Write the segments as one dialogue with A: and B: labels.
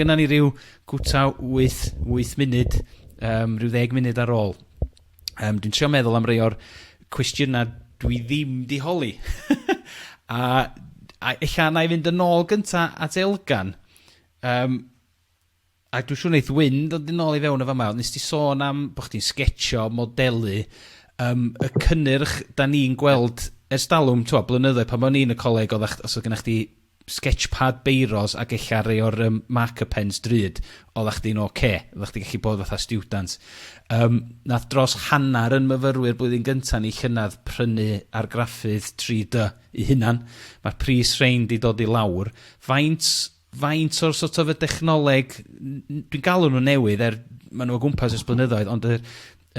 A: Gynna ni ryw gwta wyth, wyth munud, um, rhyw ddeg munud ar ôl. Um, dwi'n trio meddwl am rei o'r cwestiynau dwi ddim di holi. a, a ella na i fynd yn ôl gynta at Elgan. Um, a dwi'n siŵr wneud Wyn dod yn ôl i fewn y fama. Nes ti sôn am bod chdi'n sgetsio, modelu, um, y cynnyrch da ni'n gweld ers dalwm, twa, blynyddoedd pan o'n i'n y coleg, oedd os oedd gennych chdi Sketchpad beiros ag ella rei o'r yym marker pens drud, oddach chdi'n ok. Oddach chdi gallu bod fatha stiwdant. Yym, nath dros hanner yn myfyrwyr blwyddyn gynta ni llynadd prynu argraffydd 3-dy 'u hunan. Ma'r pris rhein 'di dod i lawr. Faint faint o'r sort of y dechnoleg, n- n- dwi'n galw nhw'n newydd er ma' nhw o gwmpas ers blynyddoedd ond yr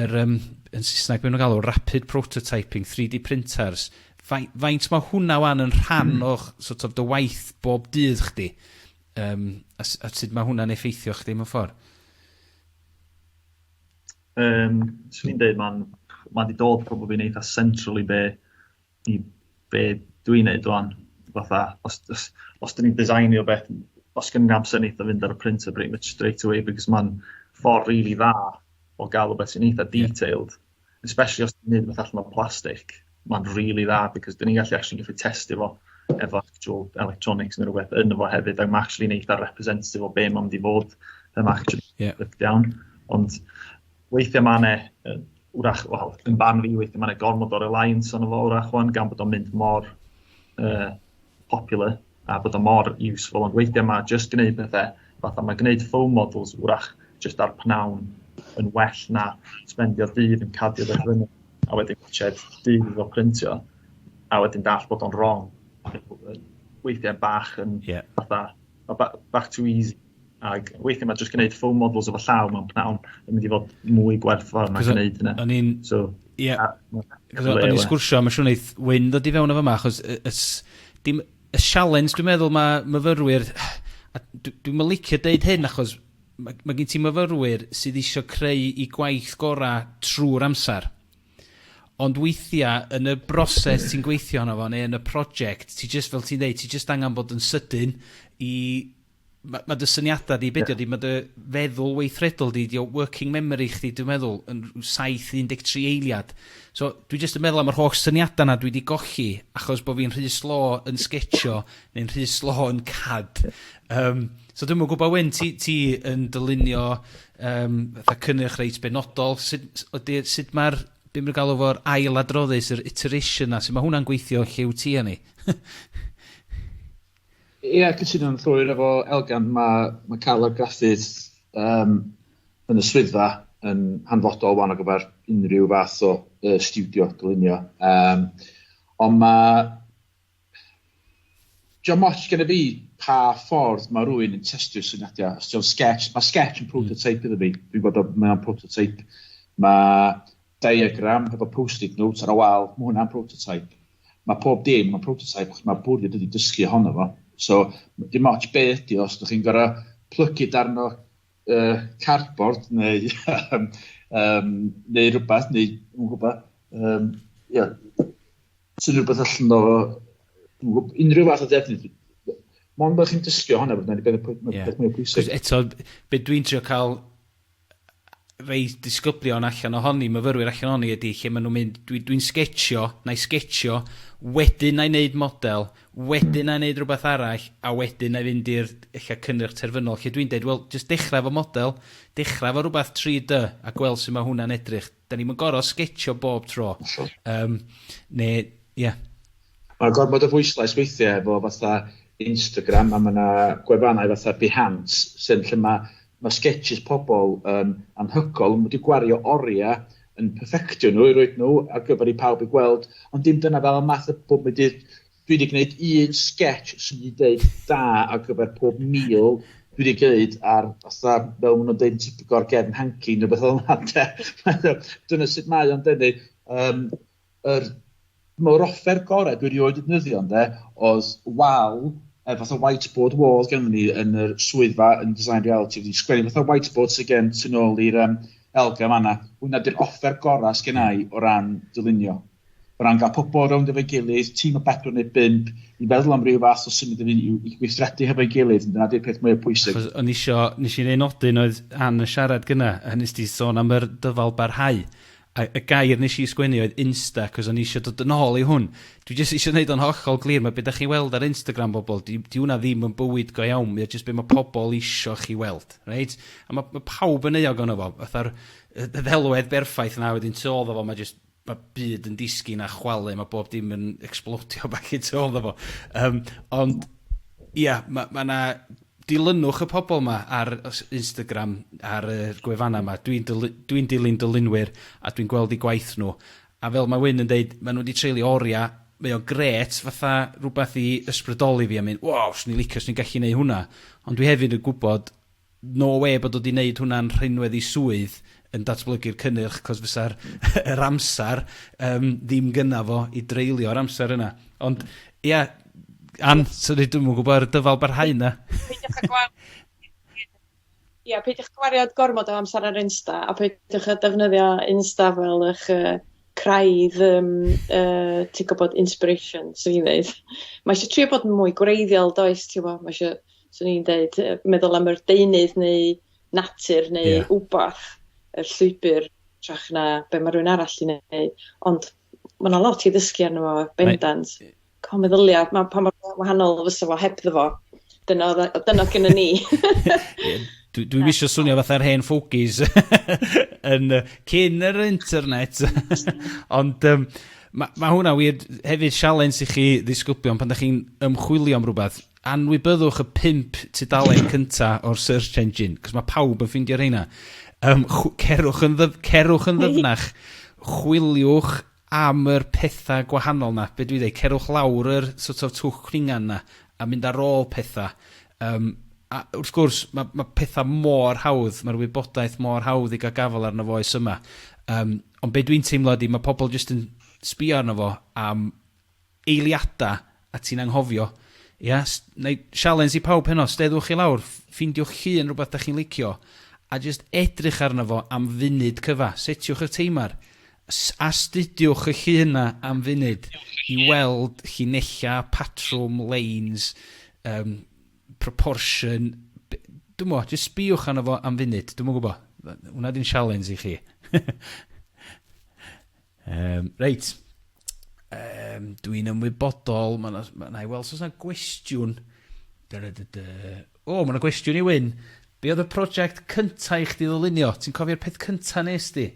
A: yr yym yn Saesneg be' ma' nw'n galw rapid prototyping, 3D printers, fai- faint ma' hwnna ŵan yn rhan hmm. o'ch sort of dy waith bob dydd chdi? Yym a s- a sud ma' hwnna'n effeithio chdi mewn ffordd? Yym swn i'n deud ma'n ma' 'di dod probably'n eitha' central i be' i be dwi'n neud wan, fatha os os os dyn ni'n designu o beth, os gen i'n amser neith o fynd ar y printer pretty much straight away because ma'n ffordd rili dda o ga'l o beth sy'n eitha detailed, especially os ti'n neud beth allan o plastic, ma'n rili dda because dyn ni'n gallu actually gallu testio fo efo actual electronics neu rhywbeth yn fo hefyd ac ma' actually'n eitha representative o be' ma'n mynd i fod, yym actually... Ie. ...breakdown ond weithiau mae yna, wrach, wel, yn barn fi, weithiau mae yna gormod o reliance ond fo, wrach, wan, gan bod o'n mynd mor uh, popular a bod o'n mor useful, ond weithiau mae just gwneud pethau, fatha mae gwneud foam models, wrach, just ar pnawn yn well na spendio dydd yn cadio beth fyny, a wedyn gwachod dydd o printio, a wedyn dall bod o'n wrong. Weithiau bach yn yeah. fatha, back to easy Ac weithiau mae jyst gwneud full models efo llaw mewn pnawn yn mynd i fod mwy gwerth fawr mae'n gwneud hynna. O'n i'n... So, ie. O'n i'n sgwrsio, mae'n siŵr wneud Wyn ddod i fewn efo yma, achos y, y, dim, y sialens dwi'n meddwl mae myfyrwyr... A dwi'n dwi licio deud hyn achos mae, mae gen ti myfyrwyr sydd eisiau creu i gwaith gorau trwy'r amser. Ond weithiau, yn y broses ti'n gweithio yna fo, neu yn y prosiect, ti jyst, fel ti'n dweud, ti jyst angen bod yn sydyn i Ma' ma' dy syniada di, be' 'di o 'di ma' dy feddwl weithredol di, 'di o working memory chdi dwi'n meddwl yn rw saith un deg tri eiliad. So dwi jyst yn meddwl am yr holl syniada 'na dwi 'di golli achos bo' fi'n rhy slo yn sgetsio neu'n rhy slo yn CAD. Yym so dwi'm yn gwbo Wyn ti ti yn dylunio yym fatha cynnyrch reit benodol sut s- ydi sut ma'r be' ma' nw galw fo'r ail adroddus yr iteration 'na su' ma' hwnna'n gweithio lle wt ti a ni? Ia, cytuno'n llwyr efo Elgan. Mae, mae cael argraffudd um, yn y swyddfa yn hanfodol wan o gyfer unrhyw fath o uh, studio dylunio. Um, ond mae... John Moch gen i fi pa ffordd mae rhywun yn testio syniadau. Os ti'n sketch, mae sketch yn hmm. prototype iddo fi. Dwi'n gwybod mae'n prototype. Mae Diagram hefo post-it notes ar y wal, mae hwnna'n prototype. Mae pob dim yn prototype, achos mae bwriad ydy dysgu ohono fo. So, dim ots be ydy o, os ydych chi'n gorau plygu darn o uh, cardboard neu, um, neu rhywbeth, neu, yn gwybod, um, yeah, sy'n rhywbeth allan o unrhyw fath o defnydd. Mond bod chi'n dysgu ohono, bod yna'n beth mwy pwysig. Eto, beth dwi'n trio cael rhei disgyblion allan ohoni, myfyrwyr allan ohoni ydy lle maen nhw'n mynd, dwi, dwi'n sgetsio, na i sgetsio, wedyn na i wneud model, wedyn na i wneud rhywbeth arall, a wedyn na i fynd i'r lle cynnyrch terfynol, lle dwi'n dweud, wel, jyst dechrau fo model, dechrau fo rhywbeth 3D, a gweld sut mae hwnna'n edrych. 'Da ni'm yn gor'o' sgetsio bob tro. Hollol. Yym, ne', ie. Ma' gormod o bwyslais weithie efo fatha Instagram a ma' 'na gwefannau fatha Behance sy'n lle ma' ma' sgetsys pobol yn anhygol, ma' nw 'di gwario oria yn perfectio nw i roid nw ar gyfer i pawb i gweld, ond dim dyna fel y math y bob 'im byd Dwi wedi gwneud un sketch sy'n mynd i ddeud da ar gyfer pob meal dwi wedi gwneud ar fatha fel maen nhw'n deud yn Tipgor gefn hanky neu beth fel yna de. Dyna sut mae o'n denu. Um, yr, mae'r offer gorau dwi erioed wedi defnyddio ynde oedd wal e, eh, fatha whiteboard wall gen ni yn yr swyddfa yn design reality wedi sgwennu fatha whiteboard sy'n gen tu nôl i'r um, elga fanna. Hwna di'r offer gorau sgennau o ran dylunio. O ran cael pobl rownd efo'i gilydd, tîm o bedwar neu bump, i feddwl am ryw fath o symud i fyny yw i gweithredu hefo'i gilydd, dyna di'r peth mwya pwysig. Achos o'n i isio, nes i un nodyn oedd Ann yn siarad gynna, a nes di sôn am yr dyfal barhau, a y gair nes i sgwennu oedd insta, achos o'n i isio dod yn ôl i hwn. Dwi jyst isio neud o'n hollol glir, ma' be' dach chi'n weld ar Instagram bobl, di di hwnna ddim yn bywyd go iawn, mae o jyst be' ma' pobl isio chi weld, reit? A ma' ma' pawb yn euog ono fo, fatha'r y y ddelwedd berffaith na wedyn tu ôl iddo fo ma' jyst ma' byd yn disgyn a chwalu ma' bob dim yn ecsblodio back i tu ôl 'ddo fo yym ond ia ma' ma' 'na dilynwch y pobol 'ma ar y s- Instagram ar yr gwefanna 'ma dwi'n dylu- dwi'n dilyn dylunwyr a dwi'n gweld 'u gwaith nw a fel ma' Wyn yn deud ma' nw 'di treulio oria mae o grêt fatha rwbath i ysbrydoli fi a mynd waw swn i'n licio swn i'n gallu neu' hwnna ond dwi hefyd yn gwbod no wê bod o 'di 'neud hwnna'n rhinwedd i swydd yn datblygu'r cynnyrch, 'cos fysa'r yr amser yym ddim gynna fo i dreulio'r amser yna. Ond, ia, Ann, sori dwi'm yn gwybod ar y dyfal barhau 'na. Peidiwch â gwa- ia, peidiwch â gwario gormod o amser ar Insta, a peidiwch â defnyddio Insta fel 'ych yy craidd yym yy ti'n gwybod, inspiration, 'swn i'n ddeud. Ma' isio trio bod yn mwy gwreiddiol, does, ti wbo, ma' isio swn i'n deud yy meddwl am yr deunydd neu natur neu... Ie. ...wbath y llwybyr trach na be' ma' rywun arall 'di neud ond ma' 'na lot i ddysgu arno fo bendant. Mae... Ca'l meddylia ma' pa mor wa- wahanol fysa fo hebddo fo. Dyna odd o dyna odd gennon ni. Ie dwi dwi'm isio swnio fatha'r hen fogies yn yy cyn yr internet ond yym ma' ma' hwnna wir hefyd sialens i chi ddisgyblion pan 'dach chi'n ymchwilio am rwbeth Anwybyddwch y pump tudalen cynta o'r search engine, 'c'os ma' pawb yn ffindio rheina. Yym chw- cerwch yn ddyf- cerwch yn ddyfnach, chwiliwch am yr petha gwahanol 'na, be' dwi ddeu', cerwch lawr yr sort of twll cwningan 'na, a mynd ar ôl petha, yym a wrth gwrs ma' ma' petha mor hawdd, ma'r wybodaeth mor hawdd i ga'l gafel arno fo oes yma. Yym ond be' dwi'n teimlo ydi ma' pobol jyst yn sbïo arno fo am eiliadau a ti'n anghofio. Ia? S- Wna i sialens i pawb heno, steddwch i lawr, f- ffeindiwch eich hun rhywbeth dach chi'n licio, a jyst edrych arno fo am funud cyfa. Setiwch eich teimar. S- Astudiwch eich hun yna am funud i weld llinellau, patrwm, leins, um, proportion. B- Dwi'n mo, jyst sbïwch arno fo am funud. Dwi'n mwyn gwybod. Hwna di'n sialens i chi. Um, reit, um, dwi'n ymwybodol, mae yna, ma na i weld os yna gwestiwn. O, oh, mae yna gwestiwn i Wyn. Be oedd y prosiect cyntaf i chdi ddylunio? Ti'n cofio'r peth cyntaf nes di?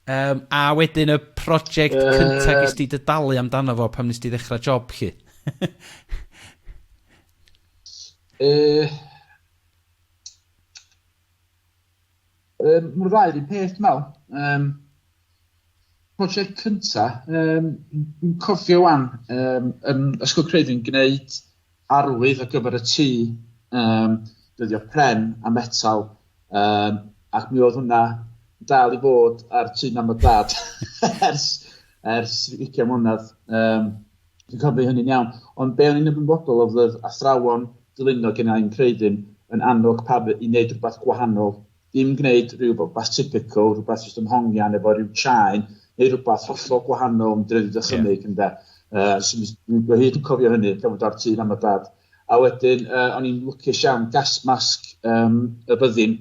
A: Um, a wedyn y prosiect uh... cyntaf gys di dydalu amdano fo pam nes di ddechrau job chi? uh, Um, Mae'r ddau yr un peth dwi meddwl. Um, prosiect cynta, um, dwi'n cofio wan um, yn Ysgol Creifi'n gwneud arwydd ar gyfer y tŷ, um, dyddio pren a metal, um, ac mi oedd hwnna dal i fod ar tŷ mam a dad ers, ers 20 mlynedd. Um, Dwi'n cofio hynny'n iawn. Ond be o'n i'n ymwybodol oedd oedd athrawon dylunio gen i'n creudyn yn annog pawb i wneud rhywbeth gwahanol. Dim gwneud rhywbeth typical, rhywbeth jyst yn hongian efo rhyw chain, neu rhywbeth hollol gwahanol yn dredu dychymyg yeah. ynde. Uh, so, dwi hyd yn cofio hynny, gan fod ar tîn am y dad. A wedyn, uh, o'n i'n lwcus iawn, gas masg um, y byddin,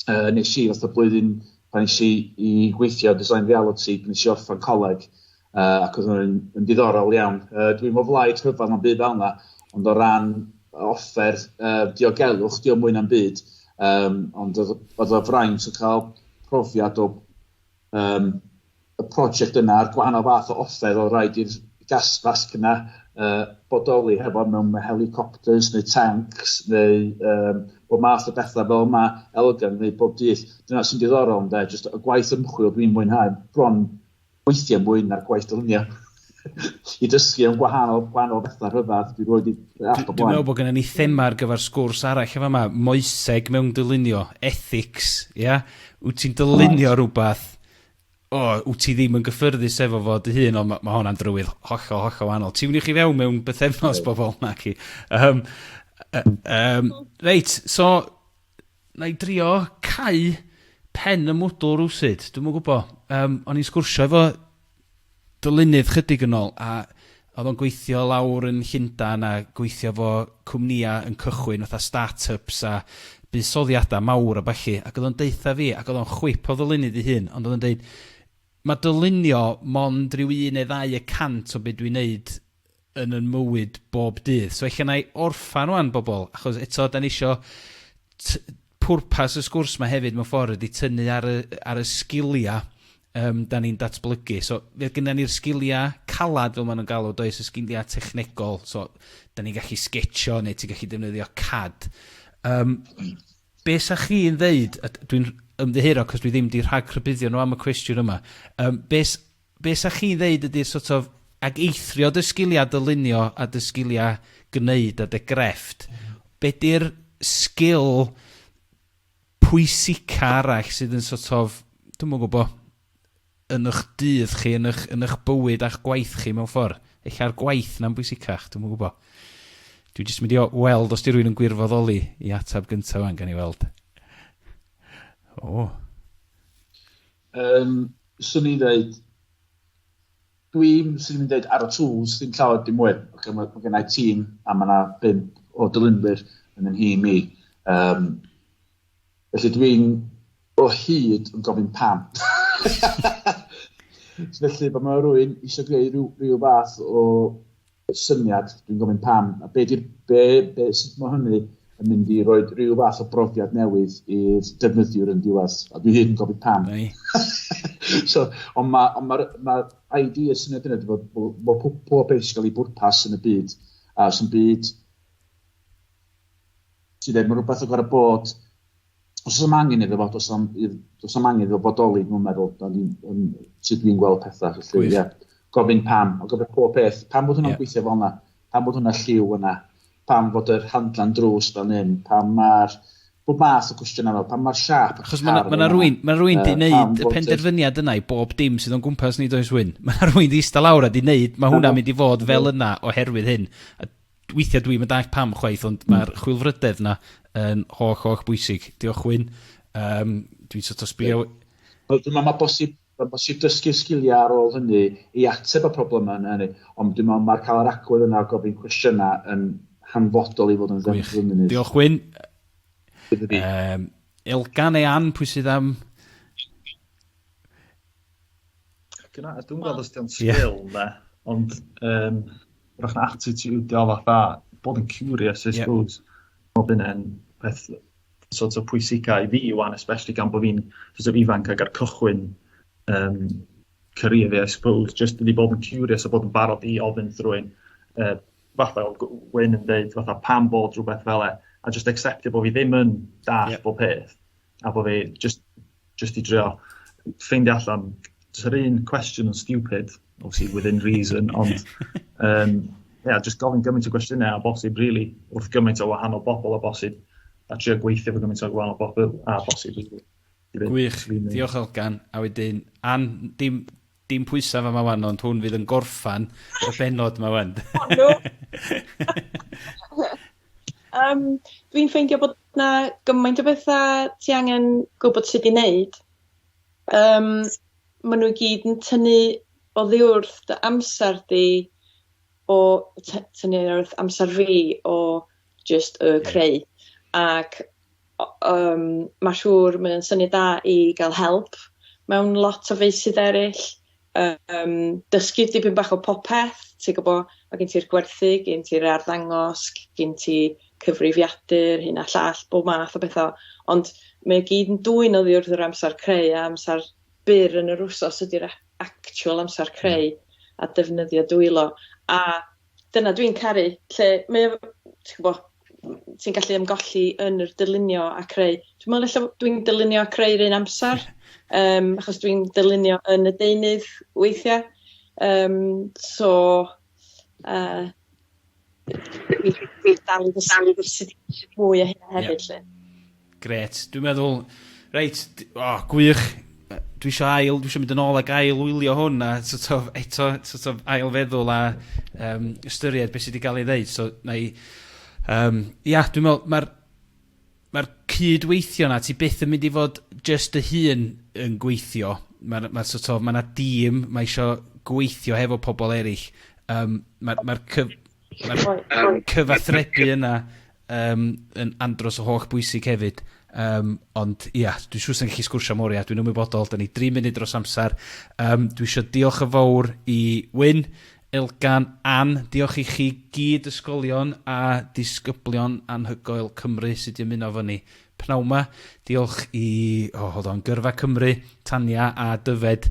A: uh, nes i fath o blwyddyn pan nes i, i gweithio design reality, pan nes i orffen coleg, uh, ac oedd hwnna'n yn diddorol iawn. Uh, dwi'n o flaid rhyfedd am byd fel yna, ond o ran offer uh, diogelwch, dio mwy na'm byd, um, ond oedd o fraint o cael profiad o um, y prosiect yna a'r gwahanol fath o offer oedd rhaid i'r gasfasg yna uh, bodoli hefo mewn helicopters neu tanks neu um, bod math o bethau fel yma elgan neu bob dydd. Dyna sy'n diddorol ynda, jyst y gwaith ymchwil dwi'n mwynhau bron weithiau mwy na'r gwaith dylunio. I dysgu am gwahanol, gwahanol bethau rhyfedd, dwi wedi app o blaen. Dwi'n meddwl bod gennym ni thema ar gyfer sgwrs arall efo yma, moeseg mewn dylunio, ethics, ia? Yeah? Wyt ti'n dylunio right. rhywbeth o, wt ti ddim yn gyffyrddus efo fo dy hun, ond ma' ma' honna'n drywydd hollol, hollol wahanol. Tiwniwch chi fewn mewn bythefnos bobl, na chi. Um, um, reit, so, na i drio cau pen y mwdl rwsyd, dwi'n mwyn gwybod. Um, o'n i'n sgwrsio efo dylunydd chydig yn ôl a oedd o'n gweithio lawr yn Llundain a gweithio fo cwmnïa yn cychwyn fatha start-ups a buddsoddiada mawr a ballu ac oedd o'n deutha fi ac oedd o'n chwip o ddylunydd ei hun ond oedd o'n deud ma' dylunio mond rhyw un neu ddau y cant o be dwi'n neud yn yn mywyd bob dydd. So ella na'i orffan wan bobl, achos eto da ni isio t- pwrpas y sgwrs mae hefyd mewn ffordd ydy tynnu ar y, ar y sgiliau um, da ni'n datblygu. So, fe gyda ni'r sgiliau calad, fel maen nhw'n galw, does y sgiliau technegol. So, da ni'n gallu sgetio neu ti'n gallu defnyddio CAD. Um, be sa chi'n ddeud, dwi'n ymddiheuro cos dwi ddim di rhag rhybuddio nhw am y cwestiwn yma, um, be be' 'sa chi'n ddeud ydi'r sort of, ag eithrio dy sgilia dylunio a dy sgilia gneud a dy grefft, be' 'di'r sgil pwysica arall sydd yn sort of, dwi'm yn gwbo, yn ych dydd chi, yn ych, yn ych bywyd a'ch gwaith chi mewn ffor? Ella'r gwaith 'na'n bwysicach, dwi'm yn gwbo. Dwi jyst mynd i o- weld os 'di rywun yn gwirfoddoli i atab gynta ŵan, gawn ni weld. O! Um, swn i'n dweud, dwi'n sy'n mynd dweud ar y tools, ddim llawer dim mwy. Okay, mae, mae gennau tîm a mae yna bimp o dylunwyr yn yn hi mi. Um, felly dwi'n o hyd yn gofyn pam. felly, bod mae rhywun eisiau gwneud rhyw, rhyw fath o syniad, dwi'n gofyn pam, a be di'r, be, be, sut mae hynny yn mynd i roi rhyw fath o brofiad newydd i'r defnyddiwr yn diwedd, a dwi hyn yn gofyn pam. so, ond mae'r ma, ma, ma, ma ID y syniad yna, bod, bod, bod pob, pob beth sy'n cael ei bwrpas yn y byd, a sy'n byd sydd ddim yn rhywbeth o gorau bod os oes am angen iddo fo, os am, os am angen iddo fo bodoli, dwi'n meddwl, da ni, um, sut dwi'n gweld pethau, felly, ie. Yeah. Gofyn pam, o gofyn pob peth, pam bod hwnna'n yeah. gweithio fel yna, pam bod hwnna lliw yna, pam bod yr handlan drws fel hyn, pam mae'r bob math o cwestiynau fel, pam mae'r siap y Chos mae yna rwy'n ma rwy'n di wneud y penderfyniad yna i bob dim sydd o'n gwmpas ni does wyn. Mae yna rwy'n di eista lawr a di wneud, mae hwnna'n mynd i fod fel yna oherwydd hyn. weithiau dwi'm yn dallt pam chwaith, ond mm. mae'r chwilfrydedd yna yn holl, holl bwysig. Diolch Wyn. Um, dwi'n sort of sbio... Wel, dwi'n meddwl mae bosib, mae bosib dysgu sgiliau ar ôl hynny i ateb y problemau yna hynny. Ond dwi'n meddwl mae'r cael yr agwedd yna o gofyn cwestiynau yn hanfodol i fod yn ddefnyddio yn munud. Diolch Wyn. Um, Elgan e Ann, pwy sydd am... Dyna, dwi'n gweld os di'n sgil na, ond um, rwy'n attitude o fatha, bod yn curious, I suppose. Yeah. Bod yn peth sort of pwysicau i fi wan, especially gan bod fi'n sort of ifanc ag ar cychwyn um, career fi, I suppose, just i bod yn curious a bod yn barod i ofyn drwy'n uh, fatha Wyn yn dweud, fatha pam bod rhywbeth fel e, a just acceptio bod fi ddim yn dall yeah. bob peth. a bod fi just, just i drio ffeindio allan, jyst yr un cwestiwn yn stupid, obviously within reason, ond um, yeah, just gofyn gymaint o gwestiynau a bosib, really, wrth gymaint o wahanol bobl a bosib, a trio gweithio fo gymaint o wahanol bobl a bosib. Gwych, diolch Elgan, a wedyn, an, dim, Dim pwysa fama wan ond hwn fydd yn gorffan y bennod ma wan. O no! Yym dwi'n ffeindio bod 'na gymaint o betha ti angen gwbod sud i neud yym ma' nw i gyd yn tynnu oddiwrth dy amser di o ty- tynnu oddiwrth amser fi o jyst yy creu ac yym ma' siŵr mae o'n syniad da i ga'l help mewn lot o feysydd eryll yym dysgu dipyn bach o popeth ti gwbo ma' gen ti'r gwerthu gen ti'r arddangos gin ti cyfrifiadur hyn a llall bob math o betha ond mae o gyd yn dwyn oddi wrth yr amsar creu a amsar byr yn yr wsos ydi'r a- actual amsar creu a defnyddio dwylo a dyna dwi'n caru lle mae o ti'n gwbo ti'n gallu ymgolli yn yr dylunio a creu. Dwi me'wl ella dwi'n dylunio a creu 'r un amsar yym achos dwi'n dylunio yn y deunydd weithia' yym so yy dwi dwi dal i ddysgu mwy o hynna hefyd 'lly. Grêt. Dwi'n meddwl, reit, d- o, gwych. Yy dwi isio ail, dwi isio mynd yn ôl ac ail wylio hwn a so't of eto so't of ail feddwl a yym ystyried be' sy 'di ga'l ei ddeud so 'nai yym ia dwi'n me'wl ma'r ma'r cyd-weithio 'na ti byth yn mynd i fod jyst dy hun yn gweithio. Ma'r ma' so't of ma' 'na dîm, ma' isio gweithio hefo pobol eryll. Yym ma'r ma'r cyf- Mae'r cyfathrebu yna um, yn andros o holl bwysig hefyd. Um, ond ia, yeah, dwi'n siŵr sy'n gallu sgwrsio mor ia, dwi'n ymwybodol, da ni 3 munud dros amser. Um, dwi eisiau diolch yn fawr i Wyn, Elgan, Ann, diolch i chi gyd ysgolion a disgyblion anhygoel Cymru sydd wedi ymuno fo ni. Pnawn ma, diolch i, oh, hold on, Gyrfa Cymru, Tania a Dyfed